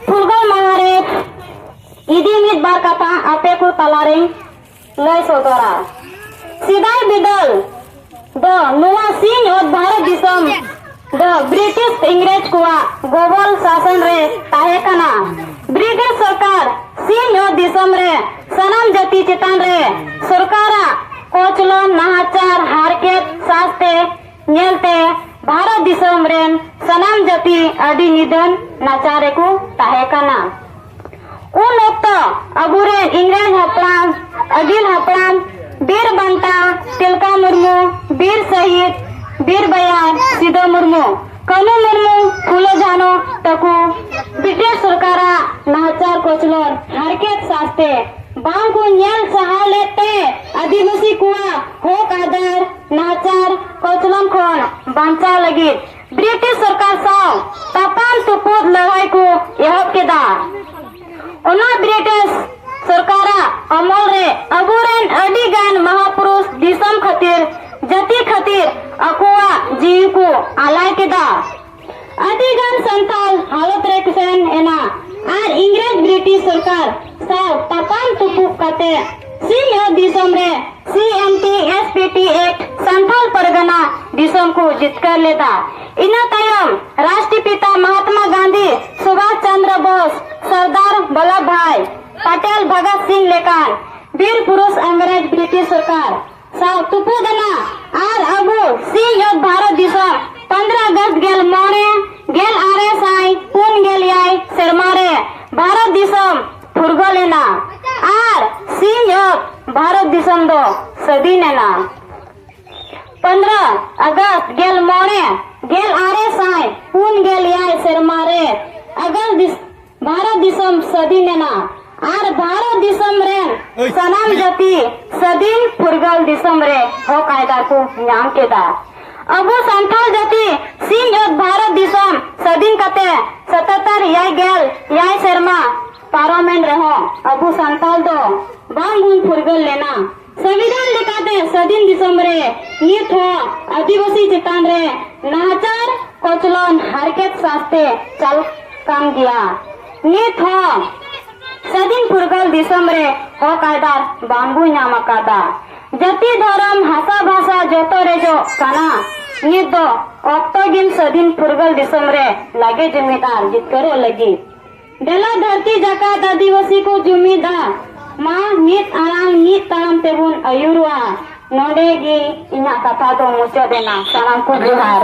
ᱯᱷᱩᱨᱜᱟᱹᱞ ᱢᱟᱦᱟ ᱨᱮ ᱤᱫᱤ ᱢᱤᱫ ᱵᱟᱨ ᱠᱟᱛᱷᱟ ᱟᱯᱮ ᱠᱚ ᱛᱟᱞᱟᱨᱮ ᱞᱟᱹᱭ ᱥᱚᱫᱚᱨᱟ ᱥᱮᱫᱟᱭ ᱵᱤᱫᱟᱹᱞ ᱫᱚ ᱱᱚᱣᱟ ᱥᱤᱧ ᱚᱛ ᱵᱷᱟᱨᱚᱛ ᱫᱤᱥᱚᱢ ᱫᱚ ᱵᱨᱤᱴᱤᱥ ᱤᱝᱨᱮᱡᱽ ᱠᱚᱣᱟᱜ ᱜᱚᱵᱚᱞ ᱥᱟᱥᱚᱱ ᱨᱮ ᱛᱟᱦᱮᱸ ᱠᱟᱱᱟ ᱵᱨᱤᱴᱤᱥ ᱥᱚᱨᱠᱟᱨ ᱥᱤᱧ ᱚᱛ ᱫᱤᱥᱚᱢ ᱨᱮ ᱥᱟᱱᱟᱢ ᱡᱟᱹᱛᱤ ᱪᱮᱛᱟᱱ ᱨᱮ ᱥᱚᱨᱠᱟᱨᱟᱜ ᱠᱚᱪᱞᱚᱱ ᱱᱟᱦᱟᱪᱟᱨ ᱦᱟᱨᱠᱮᱛ ᱥᱟᱶᱛᱮ ᱧᱮᱞᱛᱮ ᱵᱷᱟᱨᱚᱛ ᱫᱤᱥᱚᱢ ᱨᱮᱱ ᱥᱟᱱᱟᱢ ᱡᱟᱹᱛᱤ ᱟᱹᱰᱤ ᱱᱤᱫᱷᱟᱹᱱ ᱱᱟᱪᱟᱨ ᱨᱮᱠᱚ ᱛᱟᱦᱮᱸ ᱠᱟᱱᱟ ᱩᱱ ᱚᱠᱛᱚ ᱟᱵᱚᱨᱮᱱ ᱤᱝᱨᱮᱡᱽ ᱦᱟᱯᱲᱟᱢ ᱟᱹᱜᱤᱞ ᱦᱟᱯᱲᱟᱢ ᱵᱤᱨ ᱵᱟᱱᱴᱟ ᱛᱤᱞᱠᱟ ᱢᱩᱨᱢᱩ ᱵᱤᱨ ᱥᱟᱹᱦᱤᱫ ᱵᱤᱨ ᱵᱟᱭᱟᱨ ᱥᱤᱫᱟᱹ ᱢᱩᱨᱢᱩ ᱠᱟᱹᱱᱩ ᱢᱩᱨᱢᱩ ᱯᱷᱩᱞᱚ ᱡᱷᱟᱱᱚ ᱛᱟᱠᱚ ᱵᱨᱤᱴᱤᱥ ᱥᱚᱨᱠᱟᱨᱟᱜ ᱱᱟᱦᱟᱪᱟᱨ ᱠᱚᱪᱞᱚᱱ ᱦᱟᱨᱠᱮᱛ ᱥᱟᱥᱛᱮ ᱵᱟᱝᱠᱚ ᱧᱮᱞ ᱥᱟᱦᱟᱣ ᱞᱮᱫ ᱛᱮ ᱟᱹᱫᱤᱵᱟᱹᱥᱤ ᱠᱚᱣᱟᱜ ᱦᱚᱠ ᱟᱫᱟᱨ ᱱᱟᱦᱟᱪᱟᱨ ᱠᱚᱪᱞᱚᱱ ᱠᱷᱚᱱ ᱵᱟᱧᱪᱟᱣ ᱞᱟᱹᱜᱤᱫ ᱵᱨᱤᱴᱤᱥ ᱥᱚᱨᱠᱟᱨ ᱥᱟᱶ ᱛᱟᱯᱟᱢ ᱛᱩᱯᱩᱫ ᱞᱟᱹᱲᱦᱟᱹᱭ ᱠᱚ ᱮᱦᱚᱵ ᱠᱮᱫᱟ ᱚᱱᱟ ᱵᱨᱤᱴᱤᱥ ᱥᱚᱨᱠᱟᱨᱟᱜ ᱟᱢᱚᱞ ᱨᱮ ᱟᱵᱚᱨᱮᱱ ᱟᱹᱰᱤ ᱜᱟᱱ ᱢᱟᱦᱟᱯᱩᱨᱩᱥ ᱫᱤᱥᱚᱢ ᱠᱷᱟᱹᱛᱤᱨ ᱡᱟᱹᱛᱤ ᱠᱷᱟᱹᱛᱤᱨ ᱟᱠᱚᱣᱟᱜ ᱡᱤᱣᱤ ᱠᱚ ᱟᱞᱟᱭ ᱠᱮᱫᱟ ᱟᱹᱰᱤ ᱜᱟᱱ ᱥᱟᱱᱛᱟᱞ ᱦᱟᱞᱚᱛ ᱨᱮ ᱥᱮᱱ ᱮᱱᱟ ᱟᱨ ᱤᱝᱨᱮᱡᱽ ᱵᱨᱤᱴᱤᱥ ᱥᱚᱨᱠᱟᱨ ᱥᱟᱶ ᱛᱟᱯᱟᱢ ᱛᱩᱯᱩᱜ ᱠᱟᱛᱮ ᱥᱤᱧᱚᱛ ᱫᱤᱥᱚᱢ ᱨᱮ CMT SPT Act ᱥᱟᱱᱛᱟᱞ ᱯᱟᱨᱜᱟᱱᱟ ᱫᱤᱥᱚᱢ ᱠᱚ ᱡᱤᱛᱠᱟᱹᱨ ᱞᱮᱫᱟ ᱤᱱᱟᱹ ᱛᱟᱭᱚᱢ ᱨᱟᱥᱴᱨᱚᱯᱤᱛᱟ ᱢᱚᱦᱟᱛᱢᱟ ᱜᱟᱱᱫᱷᱤ ᱥᱩᱵᱷᱟᱥ ᱪᱚᱱᱫᱨ ᱵᱳᱥ ᱥᱚᱨᱫᱟᱨ ᱵᱚᱞᱞᱚᱵᱷ ᱵᱷᱟᱭ ᱯᱟᱴᱮᱞ ᱵᱷᱚᱜᱚᱛ ᱥᱤᱝ ᱞᱮᱠᱟᱱ ᱵᱤᱨ ᱯᱩᱨᱩᱥ ᱤᱝᱨᱮᱡᱽ ᱵᱨᱤᱴᱤᱥ ᱥᱚᱨᱠᱟᱨ ᱥᱟᱶ ᱛᱩᱯᱩᱫ ᱮᱱᱟ ᱟᱨ ᱟᱵᱚ ᱥᱤᱧ ᱚᱛ ᱵᱷᱟᱨᱚᱛ ᱫᱤᱥᱚᱢ 15 ᱟᱜᱚᱥᱴ ᱜᱮᱞ ᱢᱚᱬᱮ ᱜᱮᱞ ᱟᱨᱮ ᱥᱟᱭ ᱯᱩᱱ ᱜᱮᱞ ᱮᱭᱟᱭ ᱥᱮᱨᱢᱟ ᱨᱮ ᱵᱷᱟᱨᱚᱛ ᱫᱤᱥᱚᱢ ᱯᱷᱩᱨᱜᱟᱹᱞ ᱮᱱᱟ ᱟᱨ ᱥᱤᱧ ᱚᱛ ᱵᱷᱟᱨᱚᱛ ᱫᱤᱥᱚᱢ ᱫᱚ ᱥᱟᱹᱫᱷᱤᱱ ᱮᱱᱟ 15 ᱟᱜᱚᱥᱴ ᱜᱮᱞ ᱢᱚᱬᱮ ᱜᱮᱞ ᱟᱨᱮ ᱥᱟᱭ ᱯᱩᱱ ᱜᱮᱞ ᱮᱭᱟᱭ ᱥᱮᱨᱢᱟ ᱨᱮ ᱟᱜᱚᱥᱴ ᱵᱷᱟᱨᱚᱛ ᱫᱤᱥᱚᱢ ᱥᱟᱹᱫᱤ ᱢᱮᱱᱟ ᱟᱨ ᱵᱷᱟᱨᱚᱛ ᱫᱤᱥᱚᱢ ᱨᱮᱱ ᱥᱟᱱᱟᱢ ᱡᱟᱹᱛᱤ ᱥᱟᱹᱫᱤᱱ ᱯᱷᱩᱨᱜᱟᱹᱞ ᱫᱤᱥᱚᱢ ᱨᱮ ᱦᱚᱠ ᱟᱭᱫᱟᱨ ᱠᱚ ᱧᱟᱢ ᱠᱮᱫᱟ ᱟᱵᱚ ᱥᱟᱱᱛᱟᱲ ᱡᱟᱹᱛᱤ ᱥᱤᱧ ᱚᱛ ᱵᱷᱟᱨᱚᱛ ᱫᱤᱥᱚᱢ ᱥᱟᱹᱫᱤᱱ ᱠᱟᱛᱮ ᱥᱟᱛᱟᱛᱟᱨ ᱮᱭᱟᱭ ᱜᱮᱞ ᱮᱭᱟᱭ ᱥᱮᱨᱢᱟ ᱯᱟᱨᱚᱢᱮᱱ ᱨᱮᱦᱚᱸ ᱟᱵᱚ ᱥᱟᱱᱛᱟᱲ ᱫᱚ ᱵᱟᱝ ᱵᱚᱱ ᱯᱷᱩᱨᱜᱟᱹᱞ ᱞᱮᱱᱟ ᱥᱚᱝᱵᱤᱫᱷᱟᱱ ᱞᱮᱠᱟᱛᱮ ᱥᱟᱹᱫᱷᱤᱱ ᱫᱤᱥᱚᱢ ᱨᱮ ᱱᱤᱛ ᱦᱚᱸ ᱟᱹᱫᱤᱵᱟᱹᱥᱤ ᱪᱮᱛᱟᱱ ᱨᱮ ᱱᱟᱦᱟᱪᱟᱨ ᱠᱚᱪᱞᱚᱱ ᱦᱟᱨᱠᱮᱛ ᱥᱟᱥᱛᱮ ᱪᱟᱞ ᱠᱟᱱ ᱜᱮᱭᱟ ᱱᱤᱛ ᱦᱚᱸ ᱥᱟᱹᱫᱷᱤᱱ ᱯᱷᱩᱨᱜᱟᱹᱞ ᱫᱤᱥᱚᱢ ᱨᱮ ᱦᱚᱠ ᱟᱭᱫᱟᱨ ᱵᱟᱝᱵᱚ ᱧᱟᱢ ᱟᱠᱟᱫᱟ ᱡᱟᱹᱛᱤ ᱫᱷᱚᱨᱚᱢ ᱦᱟᱥᱟ ᱵᱷᱟᱥᱟ ᱡᱚᱛᱚ ᱨᱮᱡᱚᱜ ᱠᱟᱱᱟ ᱱᱤᱛ ᱫᱚ ᱚᱠᱛᱚ ᱜᱮ ᱥᱟᱹᱫᱷᱤᱱ ᱯᱷᱩᱨᱜᱟᱹᱞ ᱫᱤᱥᱚᱢ ᱨᱮ ᱞᱟᱜᱮ ᱡᱩᱢᱤᱫ ᱟᱨ ᱡᱤᱛᱠᱟᱹᱨᱚᱜ ᱞᱟᱹᱜᱤᱫ ᱫᱮᱞᱟ ᱫᱷᱟᱹᱨᱛᱤ ᱡᱟᱠᱟᱛ ᱟᱹᱫᱤᱵᱟᱹᱥᱤ ᱠᱚ ᱡᱩᱢᱤᱫᱟ ᱢᱟ ᱢᱤᱫ ᱟᱲᱟᱝ ᱢᱤᱫ ᱛᱟᱲᱟᱢ ᱛᱮᱵᱚᱱ ᱟᱹᱭᱩᱨᱚᱜᱼᱟ ᱱᱚᱰᱮ ᱜᱮ ᱤᱧᱟᱹᱜ ᱠᱟᱛᱷᱟ ᱫᱚ ᱢᱩᱪᱟᱹᱫ ᱮᱱᱟ ᱥᱟᱱᱟᱢ ᱠᱚ ᱡᱚᱦᱟᱨ